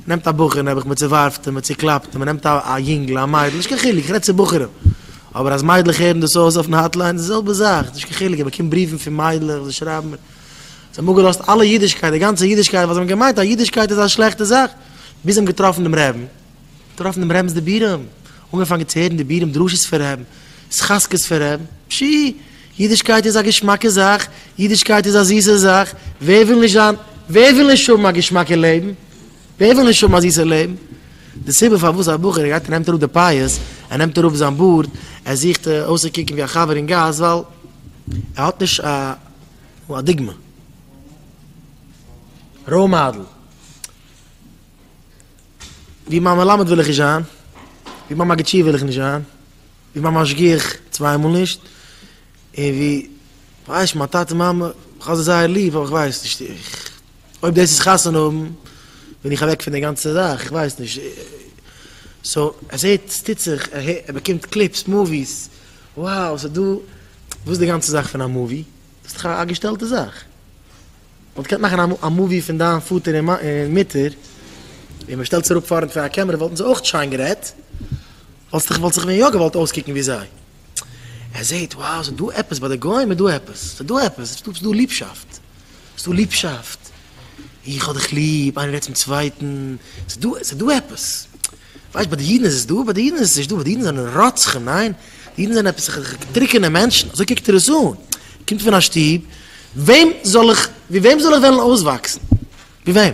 נעמט א בחור נעבעך מען צעווארפט אים מען צעקלאפט אים מען נעמט א יונגל א מיידל נישט קיין חילוק איך רעד צו בחורים אבער אז מיידלעך הערן דאס אויס אויפן האטליין די זעלבע זאך נישט קיין חילוק איך באקום בריוון פון מיידלעך וואס זיי שרייבן מיר זיי האבן אפגעלאזט אלע אידישקייט די גאנצע אידישקייט ווייל זיי האבן געמיינט אז אידישקייט איז א שלעכטע זאך ביז זיי האבן געטראפן דעם רעבין געטראפן דעם רעבינס דיבורים אנגעפאנגען צו הערן דיבורים דרשות פון רעבין התחזקות פון רעבין פשי אידישקייט איז א געשמאקע זאך, אידישקייט איז א זיסע זאך, ווער וויל נישט זיין, ווער וויל נישט האבן א געשמאקע לעבן, ווער וויל נישט האבן א זיסע לעבן, די סיבה פארוואס א בחור ער גייט ער נעמט אראפ די פאות, ער נעמט אראפ זיין בארד, ער זוכט אויסצוקוקן ווי א חבר אין גאס, ווייל ער האט נישט א דוגמא, ראול מאדעל, ווי מיין מלמד וויל איך נישט זיין, ווי מיין מגיד שיעור וויל איך נישט זיין. ווי מיין משגיח צוויי מאל נישט, און ווי כ'ווייס מיין טאטע מאמע, כ'האב זיי זייער ליב אבער כ'ווייס נישט, איך, אויב דאס איז חתונה האבן בין איך אוועק פון די גאנצע זאך, כ'ווייס נישט, סאו ער זעט ס'טוט זיך, ער הערט, ער באקומט קליפס, מאוויס, וואו ס'דא, וואס איז די גאנצע זאך פון א מאווי, דאס איז דאך א געשטעלטע זאך, מ'וואלט געקענט מאכן א מאווי פון דיין פאטער און מוטער, און מ'שטעלט זיך אראפ פארנט פון א קעמערע וואלטן זיי אויך שיין גערעדט. וואלסט איך וואלט זיך ווען יא געוואלט אויסקוקן ווי זיי. ער זעהט וואו ס'איז דא עפעס ביי די גוים איז דא עפעס ס'איז דא עפעס ס'איז דא ס'דא ליבשאפט ס'דא ליבשאפט איך האב דיך ליב איינער רעדט צום צווייטן ס'דא ס'איז דא עפעס ווייסט ביי די אידן איז עס דא ביי די אידן איז עס נישט דא ביי די אידן זענען רוצחים ניין די אידן זענען עפעס טרוקענע מענטשן אזוי קוקט ער עס אן קומט פון א שטוב וועם זאל איך ווי וועם זאל איך וועלן אויסוואקסן ווי וועם.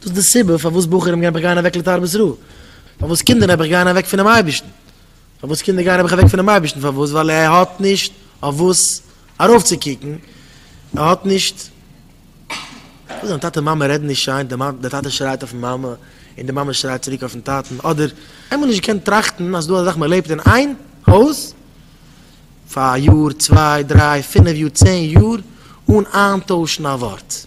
דאס איז די סיבה פארוואס בחורים נעבעך גייען אוועק לתרבות רעה, פארוואס קינדער נעבעך גייען אוועק פונעם אייבערשטן, פארוואס קינדער גייען נעבעך אוועק פונעם אייבערשטן, פארוואס? ווייל ער האט נישט אויף וואס ארויפצוקוקן, ער האט נישט, ווייל זיין טאטע מאמע רעדן נישט שיין, דער טאטע שרייט אויפן מאמע, און די מאמע שרייט צוריק אויפן טאטן, אדער עמער נישט געקענט טראכטן אז ס'דא אזא זאך מען לעבט אין איין הויז פאר א יאר, צוויי, דריי, פינף יאר, צען יאר, אן איינטוישן א ווארט.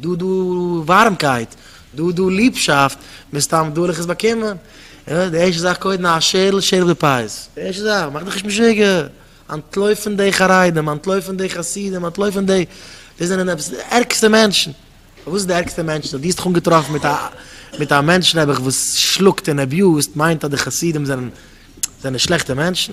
דא דו ווארעמקייט, דא דו ליבשאפט, מסתם וועל איך עס באקומען. די ערשטע זאך קודם א שערל, שערל די פייז. די ערשטע זאך, מאך דיך נישט משוגע. אנטלויפן די חרדים, אנטלויפן די חסידים, אנטלויפן די, די זענען עפעס די ערגסטע מענטשן. פארוואס די ערגסטע מענטשן? דו האסט דיך אנגעטראפן מיט א, מיט א מענטש נעבעך וואס שלאגט און עביוזט, מיינט אז די חסידים זענען, זענען שלעכטע מענטשן?